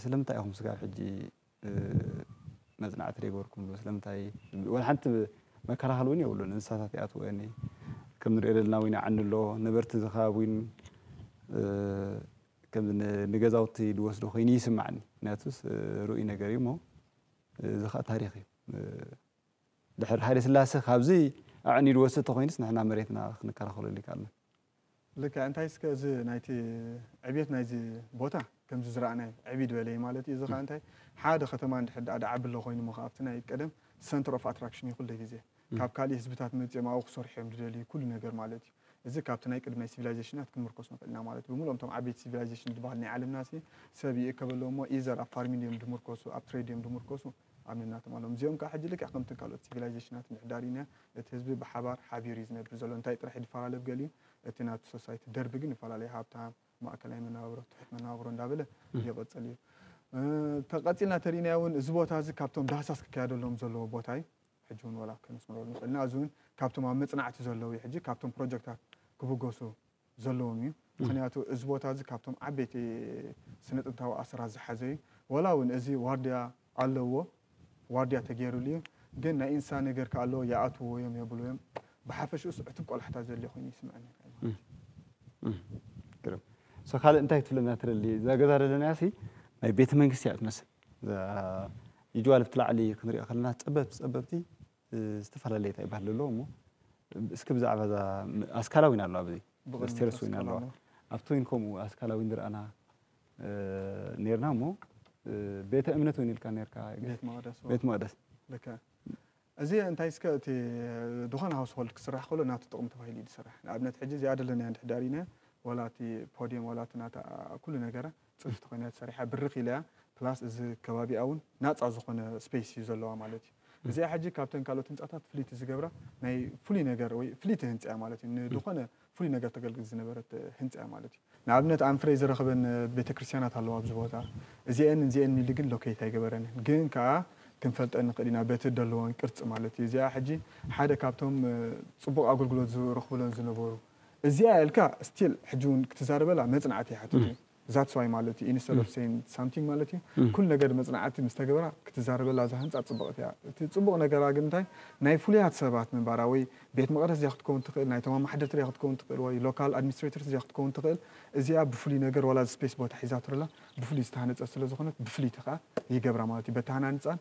ስለምንታይ ኢኹም ስጋብ ሕጂ መጽናዕቲ ደይበርኩምሉ ስለምንታይ ወላ ሓንቲ መከላኸሊ ውን የብሉን እንስሳታት ይኣትወን እየ ከም ንሪኦ ደለና ውን ይዓኒ ኣሎ ነበርቲ እዚ ከባቢ ውን ከም ንገዛውቲ ድወስዶ ኮይኑ ይስማዓኒ ምክንያቱስ ሩኡይ ነገር እዩ እሞ እዚ ከኣ ታሪኽ እዩ ድሕሪ ሃይለስላሰ ካብዚ ኣዕንዩ ድወስድ ተኾይኑስ ንሕና መሬትና ክንከላኸለሉ ኣይካኣልናን። ልክዕ እንታይ እስከ እዚ ናይቲ ዕብየት ናይዚ ቦታ ከምዚ ዝረኣናዮ ዕብይ ድበለዩ ማለት እዩ እዚ ከኣ እንታይ ሓደ ከተማ እንድሕር ደኣ ድዓቢ ኣሎ ኮይኑሞ ከኣ ኣብቲ ናይ ቀደም ሰንተር ኦፍ ኣትራክሽን እዩ ኩሉ ግዜ ካብ ካልእ ህዝብታት መጺኦም ኣብኡ ክሰርሑ እዮም ድደልዩ ኩሉ ነገር ማለት እዩ እዚ ካብቲ ናይ ቅድም ናይ ሲቪላይዘሽናት ክንምርኮስ ንክእል ኢና ማለት ብምልኦም እቶም ዓበይቲ ሲቪላይዘሽን ድበሃል ናይ ዓለምናሲ ሰብ ይእከበሎም እሞ ኢዘር ኣብ ፋርሚንግ እዮም ድምርኮሱ ኣብ ትሬድ እዮም ድምርኮሱ ኣምኒና ትማሎም። እዚኦም ከኣ ሕጂ ልክዕ ከምተን ካልኦት ሲቪላይዜሽናት ምሕዳር'ዩን እያ። እቲ ህዝቢ ብሓባር፣ ሓቢሩ እዩ ዝነብር ዘሎ። እንታይ ጥራሕ እዩ ድፈላለ ብ ገሊኡ፣ እቲ ናቱ ሶሳይቲ ደርቢ ግን ይፈላለ እዩ። ሃብታም፣ ማእከላይ መነባብሮ፣ ትሑት መነባብሮ እንዳበለ ይቕጽል እዩ። ተቐጺልና ተሪእናዮ እውን እዚ ቦታ'ዚ ካብቶም ዳህሳስ ክካየደሎም ዘለዎ ቦታ እዩ። ሕጂ እውን ወላ ከነስምረሉ ንኽእል ኢና። እዚ እውን ካብቶም ኣብ መጽናዕቲ ዘለዉ እዩ ሕጂ። ካብቶም ፕሮጀክታት ክብገሱ ዘለዎም እዩ ምኽንያቱ እዚ ቦታ እዚ ካብቶም ዓበይቲ ስነ ጥንታዊ ኣሰራት ዝሓዘ እዩ ዋላ እውን እዚ ዋርድያ ኣለዎ ዋርድያ ተገይርሉ እዩ ግን ናይ እንስሳ ነገር ከ ኣለዎ ይኣትውዎ እዮም የብልዎ እዮም ብሓፈሽኡስ ዕቱብ ቆላሕታ ዘድልዮ ኮይኑ ይስምዐኒ ግርም ሶ ካልእ እንታይ ትብለና ትደሊ እዛ ገዛ ደለናያ ሲ ናይ ቤተ መንግስቲ እያ ትመስል እዛ ይጅዋል ብቲ ላዕሊ ክንሪኦ ከለና ፀበብቲ ፀበብቲ ዝተፈላለየ ታይ ባህሊ ኣለዎ እሞ እስኪ ብዛዕባ እዛ ኣስካላ ዊን ኣለዋ ብዚ ስቴረስ ዊን ኣለዋ ኣብቲ ዊን ከምኡ ኣስካላ ዊን ዝረኣና ኔርና እሞ ቤተ እምነት ዊን ኢልካ ኔርካ ቤት መቅደስ እዚ እንታይ እስከ እቲ ዝኾነ ሃውስ ሆልድ ክስራሕ ከሎ ናቱ ጥቕሚ ተባሂሉ እዩ ዝስራሕ ንኣብነት ሕጂ እዚኣ ደለናያ እንድሕር ዳሪና ዋላ እቲ ፖድየም ዋላ እቲ ናታ ኩሉ ነገራ ፅፍፍቲ ኮይናያ ተሰሪሓ ብርኽ ኢላ እያ ፕላስ እዚ ከባቢኣ እውን ናፃ ዝኾነ ስፔስ እዩ ዘለዋ ማለት እዩ እዚኣ ሕጂ ካብተን ካልኦት ህንፃታት ፍልይቲ ዝገብራ ናይ ፍሉይ ነገር ወይ ፍልይቲ ህንፃ እያ ማለት እዩ ንድኾነ ፍሉይ ነገር ተገልግል ዝነበረት ህንፃ እያ ማለት እዩ ንኣብነት ኣንፍሬ ዝረኽበን ቤተክርስትያናት ኣለዋ ኣብዚ ቦታ እዚኤን እዚኤን ኢሉ ግን ሎኬት ኣይገበረንን ግን ከኣ ክንፈልጠን ንኽእል ኢና በቲ ደለዎን ቅርፂ ማለት እዩ እዚኣ ሕጂ ሓደ ካብቶም ፅቡቕ ኣገልግሎት ዝረኽብሎን ዝነበሩ እዚኣ እልካ ስቲል ሕጂ ውን ክትዛረበላ መጽናዕቲ ይሓትት እዩ ዛትስ ዋይ ማለት እዩ ኢንስተድ ኦፍ ሰይን ሳምቲንግ ማለት እዩ ኩሉ ነገር መጽናዕቲ ምስ ተገበራ ክትዛረበላ እዛ ህንጻ ጽብቕቲ እያ እቲ ጽቡቕ ነገራ ግን እንታይ ናይ ፍሉያት ሰባት ምንባራ ወይ ቤት መቕደስ እዚኣ ክትከውን ትኽእል ናይቶም ኣማሓደርቲ እዚኣ ክትከውን ትኽእል ወይ ሎካል ኣድሚኒስትሬተርስ እዚኣ ክትከውን ትኽእል እዚኣ ብፍሉይ ነገር ዋላ እዚ ስፔስ ቦታ ሒዛቶ ዘላ ብፍሉይ ዝተሃነጸት ስለ ዝኾነት ብፍልይቲ ከኣ ይገብራ ማለት እዩ በቲ ሃናንጻን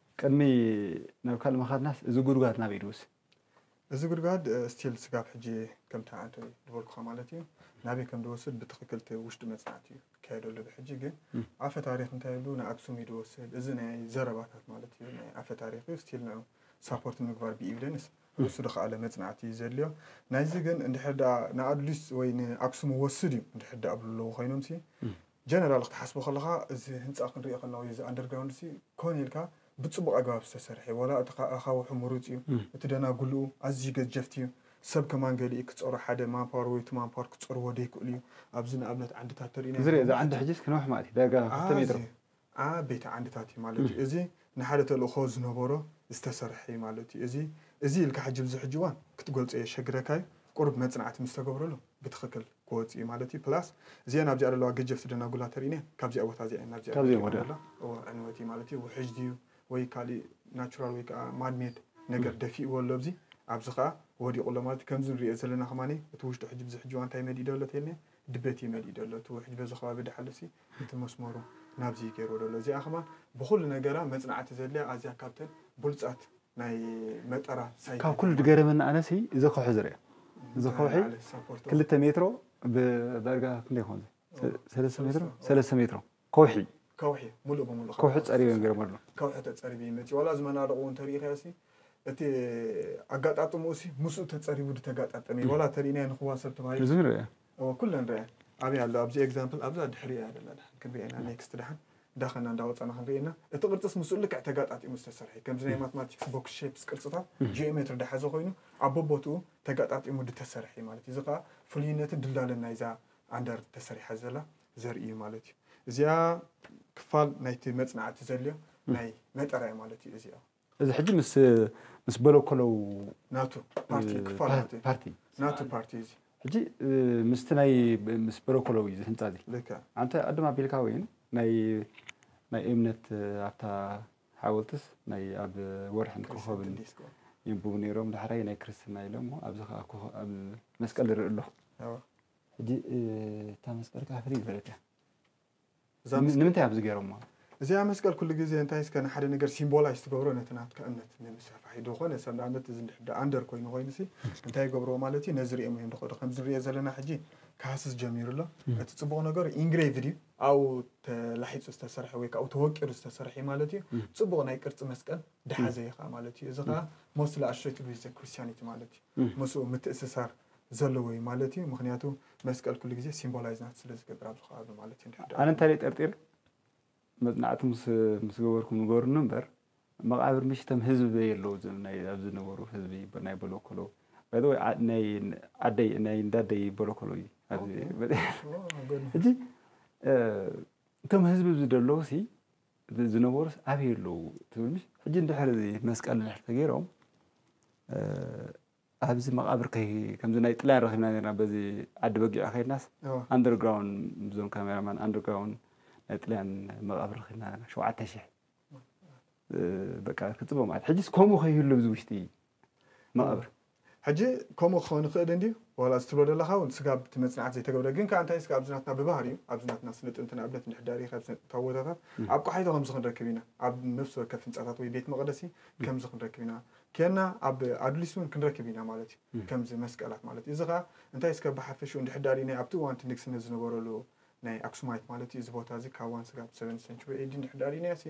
ቅድሚ ናብ ካልእ ምኻድናስ እዚ ጉድጓድ ናበይ ድውስ? እዚ ጉድጓድ ስቲል ስጋብ ሕጂ ከምቲ ኣንተ ድበልኩኻ ማለት እዩ ናበይ ከም ድወስድ ብትኽክል እቲ ውሽጢ መጽናዕቲ እዩ ክካየደሉ ብሕጂ ግን ኣፈ ታሪኽ እንታይ ይብሉ ንኣክሱም እዩ ድወስድ እዚ ናይ ዘረባታት ማለት እዩ ናይ ኣፈ ታሪኽ እዩ ስቲል ንዑ ሳፖርት ምግባር ብኢቪደንስ ንሱ ድኸኣለ መጽናዕቲ እዩ ዘድልዮ ናይዚ ግን እንድሕር ደኣ ንኣድሊስ ወይ ንኣክሱም ወስድ እዩ እንድሕር ደኣ ብሉ ኣለዉ ኮይኖምሲ ጀነራል ክትሓስቦ ከለኻ እዚ ህንጻ ክንሪኦ ከለና ወይ እዚ ኣንደርግራውንድሲ ኮን ኢልካ ብጽቡቕ ኣገባብ ዝተሰርሐ እዩ ዋላ እቲ ኣኻውሑ ምሩጽ እዩ እቲ ደናጉሉኡ ኣዝዩ ገጀፍቲ እዩ ሰብ ከማን ገሊኡ ክጸሮ ሓደ ማንፓወር ወይ ቱ ማንፓወር ክጸርዎ ደይክእሉ እዩ ኣብዚ ንኣብነት ዓንድታት ተሪኢና እዚ ሪኦ እዚ ዓንዲ ሕጂስ ክነውሕ ማለት እዩ ዳርጋ ክልተ ሜትሮ ኣዚ ዓቤቲ ዓንድታት እዩ ማለት እዩ እዚ ንሓደ ተልእኾ ዝነበሮ ዝተሰርሐ እዩ ማለት እዩ። እዚ እዚ ኢልካ ሕጂ ኣብዚ ሕጂ እዋን ክትገልጾ የሸግረካ እዩ። ቁሩብ መጽናዕቲ ምስ ተገብረሉ ብትኽክል ክወጽእ እዩ ማለት እዩ። ፕላስ እዚኤን ኣብዚኣ ዘለዋ ገጀፍቲ ደናጉላ ተሪእኔን ካብዚኣ ቦታ እዚኣ እየን ናብዚኣ ካብዚኤን ደቂቐን ወዲኣ። ዘለዋ። እወ ዕንወት እዩ ማለት እዩ። ውሕጅ ድዩ ወይ ካሊእ ናቹራል ወይ ከኣ ማን ሜድ ነገር ደፊእዎ ኣሎ ኣብዚ። ኣብዚ ከኣ ወዲቑ ኣሎ ማለት እዩ። ከምዚ ንርእዮ ዘለና ከማኒ እቲ ውሽጡ ሕጂ ብዚ ሕጂ እዋን እንታይ መዲእ ዶ ኣሎ ተይልኔን ድበት እዩ መሊኡ ደሎ እቲ ውሕጅ በዚ ከባቢ ዳሓሉሲ እቲ መስመሩ ናብዚ እዩ ገይርዎ ደሎ እዚኣ ከማን ብኩሉ ነገራ መጽናዕቲ ዘድልያ ኣዝያ ካብተን ቡልጻት ናይ መጠራ ሳይት ካብ ኩሉ ድገረመኒ ኣነሲ እዚ ከውሒ ዝርኣ እዚ ከውሒ ክልተ ሜትሮ ብዳርጋ ክንደይ ይኮን እዚ ሰለስተ ሜትሮ ሰለስተ ሜትሮ ከውሒ ከውሒ ሙሉእ ብሙሉእ ከውሒ ከውሒ ጸሪበ ተጸሪበ ገይሮም ኣሎ። ከውሒ ተጸሪበ ይመጺ ዋላ እዚ መናድቑ እውን ተሪእኻዮሲ እቲ ኣጋጣጥምኡሲ ምስኡ ተጸሪቡ ድተጋጣጠመ እዩ ዋላ ተሪእናዮ ንኽዋ ሰብ ተባሂሉ እዚ ንርኣ እወ ኩለን ንርኣየን ኣበይ ኣሎ ኣብዚ ኤግዛምፕል ኣብዛ ድሕሪ እያ ዘላ ድሓን ክንሪኣ ኢና ኔክስት ድሓን እንዳኸና እንዳወጻና ክንርኢ ኢና እቲ ቅርጽስ ምስኡ ልክዕ ተጋጣጢሙ ዝተሰርሐ እዩ ከምዚ ናይ ማትማቲክስ ቦክስ ሼፕስ ቅርጽታት ጂኦሜትሪ ድሓዘ ኮይኑ ኣብ ቦቦትኡ ተጋጣጢሙ ድተሰርሐ እዩ ማለት እዩ እዚ ከዓ ፍሉይነትን ድልዳለን ናይዛ ኣንደር ተሰሪሓ ዘላ ዘርኢ እዩ ማለት እዩ። እዚኣ ክፋል ናይቲ መጽናዕቲ ዘልዮ ናይ መጠራ እዩ ማለት እዩ እዚኣ። እዚ ሕጂ ምስ ምስ በለኮለው ናቱ ፓርቲ ክፋል ናቱ ፓርቲ ናቱ ፓርቲ እዚ ሕጂ ምስቲ ናይ ምስ በለኮለው እዩ ህንጻ እዚ ልክዕ ኣንተ ቅድም ኣቢልካ ወይን ናይ ናይ እምነት ኣብታ ሓወልትስ ናይ ኣብ ወርሕን ኮኸብን ዲስኮ ይንብቡ ነይሮም ዳሕራይ ናይ ክርስትና ኢሎም ኣብዚ ከዓ ኮኸ- ኣብ መስቀል ይርኢ ኣለኹ ኣዎ ሕጂ እታ መስቀል ከኣ ፍልይ ዝበለት እያ። እዛ መስቀል- ንምንታይ ኣብዚ ገይሮማ? እዚኣ መስቀል ኩሉ ግዜ እንታይ እስከ ንሓደ ነገር ሲምቦላይዝ ትገብሮ ነቲ ናትካ እምነት ንምስፋሕ እዩ ዝኾነ ሰብ ንኣብነት እዚ እንድሕር ዳኣ ኣንደር ኮይኑ ኮይኑሲ እንታይ ይገብርዎ ማለት እዩ ነዚ ሪኦም እዮም ዝኸዱ ከምዚ ንሪኦ ዘለና ሕጂ ክሃስስ ጀሚሩ ኣሎ እቲ ጽቡቕ ነገሩ ኢንግሬቭድ እዩ ኣብኡ ተላሒጹ ዝተሰርሐ ወይ ካብኡ ተወቂሩ ዝተሰርሐ እዩ ማለት እዩ ጽቡቕ ናይ ቅርጺ መስቀል ድሓዘ እዩ ከዓ ማለት እዩ እዚ ከዓ ሞስትሊ ኣሶሽትድ ዊዝ ክርስቲያኒቲ ማለት እዩ ምስኡ ምትእስሳር ዘለዎ እዩ ማለት እዩ ምክንያቱ መስቀል ኩሉ ግዜ ሲምቦላይዝ ናት ስለ ዝገብር ኣብዚ ከባቢ ማለት እዩ ኣነ እንታይ ደይ ጠርጢረ መጽናዕቲ ምስ ገበርኩም ንገሩኒ እምበር መቃብር ምሽ ተም ህዝቢ በይ ኣለዉ ኣብዚ ዝነበሩ ህዝቢ ናይ በለኮሎ ባይዘወይ ናይ ኣደይ ናይ እንዳደይ በለኮሎ እዩ እዚ እቶም ህዝቢ ዝደለዉ ሲ ዝነበሩስ ኣበይ ኣለዉ ትብል ምሽ ሕጂ እንድሕር እዚ መስቀል እንድሕር ተገይሮም ኣብዚ መቓብር ከይ ከምዚ ናይ ጥልያን ረኺብና ነርና በዚ ዓዲ በጊዕ ከይድናስ እዎ። ኣንደርግራውን ብዞም ካሜራማን ኣንደርግራውን ናይ ጥልያን መቓብር ረኺብና ነርና ሸውዓተ ሽሕ እ፣ በቃ ክጽበ ማለት ሕጂስ ከምኡ ከይህሉ ኣብዚ ውሽጢ መቓብር ሕጂ ከምኡ ክኸውን ይኽእል እንድዩ ዋላ እዚ ትብሎ ዘለኻ እውን ስጋብ እቲ መጽናዕቲ ዘይተገብረ ግን ከኣ እንታይ ስጋብ ኣብዚ ናትና ብባህሪኡ ኣብዚ ናትና ስነ ጥንቲ ንኣብነት እንድሕር ዳርየ ካብ ስነ ጥንታዊ ቦታታት ኣብ ቆሓይቶ ከምዚ ክንረክብ ኢና ኣብ ነፍሲ ወከፍ ህንጻታት ወይ ቤት መቕደሲ ከምዚ ክንረክብ ኢና ኴንና ኣብ ኣዱሊስ እውን ክንረክብ ኢና ማለት እዩ፣ ከምዚ መስቀላት ማለት እዩ። እዚ ኸኣ እንታይ እስከ ብሓፈሽኡ እንድሕር ደኣ ርኢናዮ ኣብቲ እዋን እቲ ንግስነት ዝነበረሉ ናይ ኣክሱማይት ማለት እዩ እዚ ቦታ እዚ ካብ ዋን ስጋብ ሰቨንዝ ሰንቹሪ ኤዲ እንድሕር ደኣ ርኢናዮሲ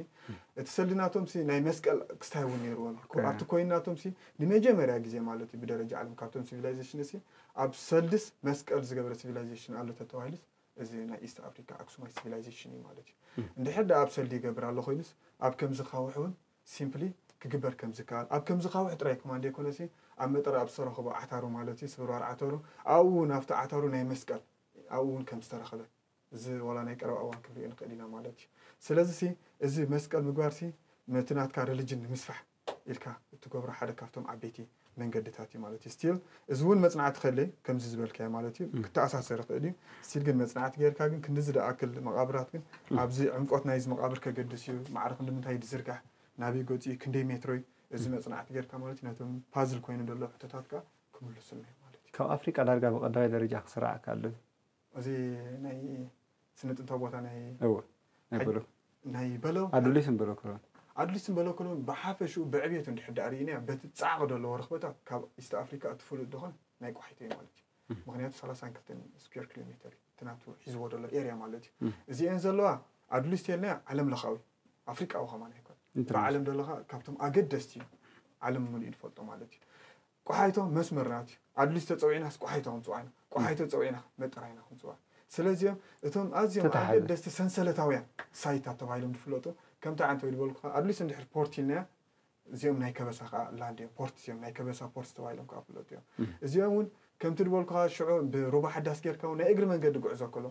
እቲ ሰልዲ ናቶምሲ ናይ መስቀል ክስታይ እውን ነይርዎም እዩ። ኦከ። ኣብቲ ኮይን ናቶምሲ ንመጀመርያ ግዜ ማለት እዩ ብደረጃ ዓለም ካብቶም ሲቪላይዜሽን እሲ ኣብ ሰልድስ መስቀል ዝገበረ ሲቪላይዜሽን ኣሎ ተተባሂሉስ እዚ ናይ ኢስት ኣፍሪካ ኣክሱማይት ሲቪላይዜሽን እዩ ማለት እዩ። እንድሕር ደኣ ኣብ ሰልዲ ይገብር ኣሎ ኮይኑስ ኣብ ከምዚ ካውሕ እውን ሲምፕሊ ክግበር ከም ዝከኣል ኣብ ከምዚ ካውሕ ጥራይ ክማን ደይኮነሲ ኣብ መጠረ ኣብ ዝተረኸቡ ዓታሩ ማለት እዩ ስብርባር ዓተሩ ኣብኡ ውን ኣብቲ ዓታሩ ናይ መስቀል ኣብኡ ውን ከም ዝተረኸበ እዚ ዋላ ናይ ቀረባ እዋን ክንሪኦ ንክእል ኢና ማለት እዩ ስለዚ ሲ እዚ መስቀል ምግባር ሲ ነቲ ናትካ ረሊጅን ንምስፋሕ ኢልካ እትገብሮ ሓደ ካብቶም ዓበይቲ መንገድታት እዩ ማለት እዩ ስቲል እዚ እውን መፅናዕቲ ከለ ከምዚ ዝበልካዮ ማለት እዩ ክተኣሳሰር ይኽእል እዩ ስቲል ግን መፅናዕቲ ጌርካ ግን ክንዲ ዝደኣክል መቓብራት ግን ኣብዚ ዕምቆት ናይዚ መቓብር ከገድስ እዩ ማዕረ ክንዲምንታይ ዝዝርጋሕ ናበይ ገፁ እዩ ክንደይ ሜትሮ እዩ እዚ መፅናዕቲ ጌርካ ማለት እዩ ነቶም ፓዝል ኮይኑ ዘሎ ሕቶታት ከዓ ክምልሱልና እዩ ማለት እዩ ካብ ኣፍሪቃ ዳርጋ ብቀዳማይ ደረጃ ክስራዕ ከኣሉ እዩ እዚ ናይ ስነ ጥንታዊ ቦታ ናይ እወ ናይ በሎ ናይ በሎ ኣዱሊስን በሎ ክሎን ኣዱሊስን በሎ ክሎን ብሓፈሽኡ ብዕብየቱ እንድሕር ዳኣ ርኢናያ በቲ ጻዕቒ ዘለዎ ርኽበታት ካብ ኢስት ኣፍሪካ እቲ ፍሉጥ ድኾን ናይ ቋሒቶ እዩ ማለት እዩ ምክንያቱ ሰላሳን ክልተን ስኩዌር ኪሎ ሜተር እዩ እቲ ናቱ ሒዝዎ ዘሎ ኤርያ ማለት እዩ እዚኤን ዘለዋ ኣዱሊስ ተልናያ ዓለም ለኻዊ ኣፍሪቃዊ ከማን ኣይኮነ ብዓለም ደለኻ ካብቶም ኣገደስቲ እዩ ዓለም ምሉእ ድፈልጦ ማለት እዩ ቆሓይቶ መስመርና እዩ ኣድሊስ ተጸዊዕናስ ቆሓይቶ ክንጽዋዕ ኢና ቆሓይቶ ጸዊዕና ክንመ ጥራይ ኢና ክንጽዋዕ ስለዚም እቶም ኣዝዮም ተታሓዘ። ኣገደስቲ ሰንሰለታውያን ሳይታት ተባሂሎም ዝፍለጡ ከምቲ ዓንተወይ ዝበልኩኻ ኣድሊስ እንድሕር ፖርት ኢልናዮ እዚኦም ናይ ከበሳ ከኣ ላንድ እዮም ፖርትስ እዮም ናይ ከበሳ ፖርትስ ተባሂሎም ከኣ ዝፍለጡ እዮም እዚኦም እውን ከምቲ ዝበልኩኻ ሽዑ ብሩባ ሓዳስ ጌርካ እውን ናይ እግሪ መንገዲ ጉዕዞ ከሎ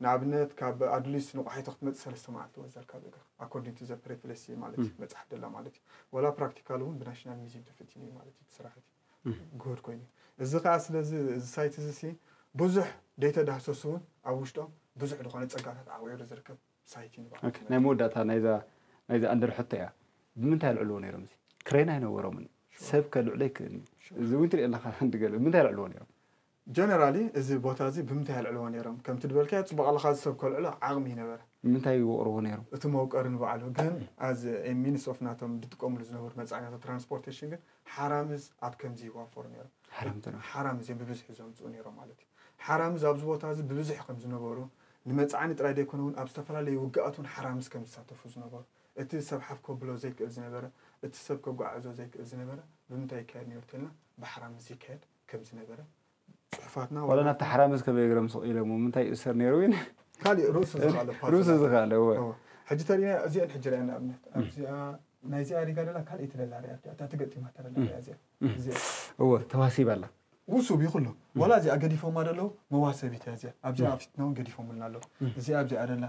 ንኣብነት ካብ ኣዱሊስ ንቋሒቶ ክትመጽእ ሰለስተ መዓልቲ ወዘልካ ብእግርካ ኣኮርዲንግ ቱ ዘ ፕሬትለሲ ማለት እዩ መጽሓፍ ደላ ማለት እዩ ወላ ፕራክቲካል እውን ብናሽናል ሚዚየም ተፈቲኑ እዩ ማለት እዩ እቲ ስራሕ እቲ ግሁድ ኮይኑ እዩ እዚ ከዓ ስለዚ እዚ ሳይት እዚ ሲ ብዙሕ ደይተዳህሰሱ እውን ኣብ ውሽጦም ብዙሕ ዝኾነ ጸጋታት ዓቂሩ ዝርከብ ሳይት እዩ ንባዕሉ ኦኬ፣ ናይ መወዳእታ ናይዛ ናይዛ ኣንደር ሕቶ እያ ብምንታይ ኣልዕልዎ ነይሮም እዚ ክሬን ኣይነበሮምን ሰብ ከልዕሎ ኣይክእልን እዩ እዚ እውን ትሪኦ ኣለኻ ሓንቲ ገለ ብምንታይ ኣልዕልዎ ነይሮም Generally እዚ ቦታ እዚ ብምንታይ የልዕልዎ ነይሮም? ከምቲ ድበልካዮ ጽቡቕ ኣለኻ እዚ ሰብ ከልዕሎ ዓቕሚ እዩ ነበረ። ንምንታይ ይወቕርዎ ነይሮም? እቲ መውቀሪ ንባዕሉ ግን as a means of ናቶም ድጥቀምሉ ዝነበሩ መጻዕኛታት ትራንስፖርቴሽን ግን ሓራምዝ ኣብ ከምዚ ይዋፈሩ ነይሮም። ሓራምዝ ነይሮም። ሓራምዝ እዮም ብብዝሒ ዘምጽኡ ነይሮም ማለት እዩ። ሓራምዝ ኣብዚ ቦታ እዚ ብብዝሒ ከም ዝነበሩ ንመጻዕኒ ጥራይ ዘይኮነ እውን ኣብ ዝተፈላለዩ ውግኣት እውን ሓራምዝ ከም ዝሳተፉ ዝነበሩ እቲ ሰብ ሓፍ ከብሎ ዘይክእል ዝነበረ እቲ ሰብ ከጓዓዕዞ ዘይክእል ዝነበረ ብምንታይ ይካየድ ነይሩ ተልና ብሓራምዝ ይካየድ ከም ዝነበረ ጽሑፋትና ዋላ ናብቲ ሓራምዝ ከመይ እግሮም ስቕ ኢሎሞ ምንታይ ይእሰር ነይሩ ግን ካልእ ርእሱ ዝኻለ ርእሱ ዝኻለ ሕጂ ተሪና እዚአን ሕጂ ርኣያ ንኣብነት ኣብዚኣ ናይ እዚኣ ሪጋ ደላ ካልእ ትደላ ርያ እታ ትገጢማ ተረላ ርያ እዚኣ እወ ተዋሲባ ኣላ ውሱብ ይኹሎ ዋላ እዚኣ ገዲፎማ ደለዉ መዋሰቢት እያ እዚኣ ኣብዚኣ ኣብ ፊትና እውን ገዲፎምልና ኣለዉ እዚኣ ኣብዚኣ ደላ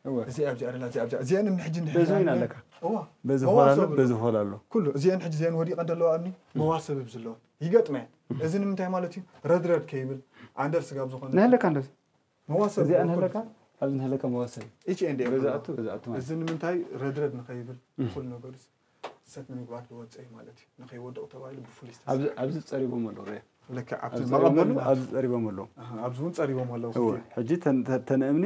እወ እዚ ኣብዚ ኣረላ እዚ ኣብዚ እዚኤን እምኒ ሕጂ እንድሕር በዚ ዊን ይሃልነ ኣለካ እወ በዚ ሆል መዋሰብ ኣሎ በዚ ሆል ኣሎ ኩሉ እዚኤን ሕጂ እዚኤን ወዲቀን ደለዋ እምኒ መዋሰብ እብ ዝለወን ይገጥመ እዚ ንምንታይ ማለት እዩ ረድረድ ከይብል ኣንደር ስጋብ ዝኾነ ንህለካ እንደዚ መዋሰብ እዚኣ ንህለካ ኣብዚ ንህለካ መዋሰብ ኢች ኤንድ ኤቭሪ በዚ ኣቱ በዚ ኣቱ ማለት እዚ ንምንታይ ረድረድ ንኸይብል ኩሉ ነገሩ ሰት ንምግባር ዝወፀ እዩ ማለት እዩ ንከይወድቕ ተባሂሉ ብፍሉይ ዝተሰርሐ ኣብዚ ፀሪቦም ኣለዉ ርእ ልክዕ ኣብቲ ኣብዚ ፀሪቦም መቐበሊ ኣለዉ፣ ኣብዚ ፀሪቦም ኣለዉ ኣሃ፣ ኣብዚ እውን ፀሪቦም ኣለዉ እወ ክልቲኦም ሕጂ ተን ተ- ተን እምኒ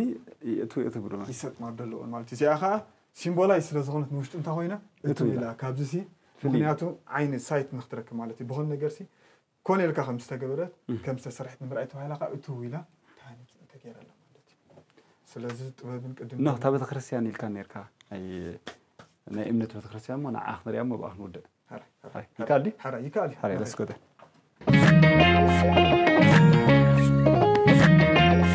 የእትው የእትው ብለወን ይሰጥማ ደለወን ማለት እዩ እዚኣ ከዓ ሲምቦላይዝ ስለ ዝኾነት ንውሽጢ እንታይ ኮይና እትው እትው ኢላ ኢላ ካብዚ ሲ ፍልይ ኢላ። ምክንያቱ ዓይኒ ሳይት ንክትረክብ ማለት እዩ ብኮነ ነገር ሲ ኮነ ኢልካ ከም ዝተገበረት ከም ዝተሰርሐት ንምርኣይ ተባሂላ ከዓ እትው ኢላ ተሃኒፅ ተገይረላ ማለት እዩ ስለዚ ጥበብን ቅድም እና እታ ቤተክርስትያን ኢልካ ነርካ ናይ እምነት ቤተክርስትያን ሞ ንዓ ክንሪያ ሞ ብኣ ክንውድእ ይከኣል ድዩ ይከኣል እዩ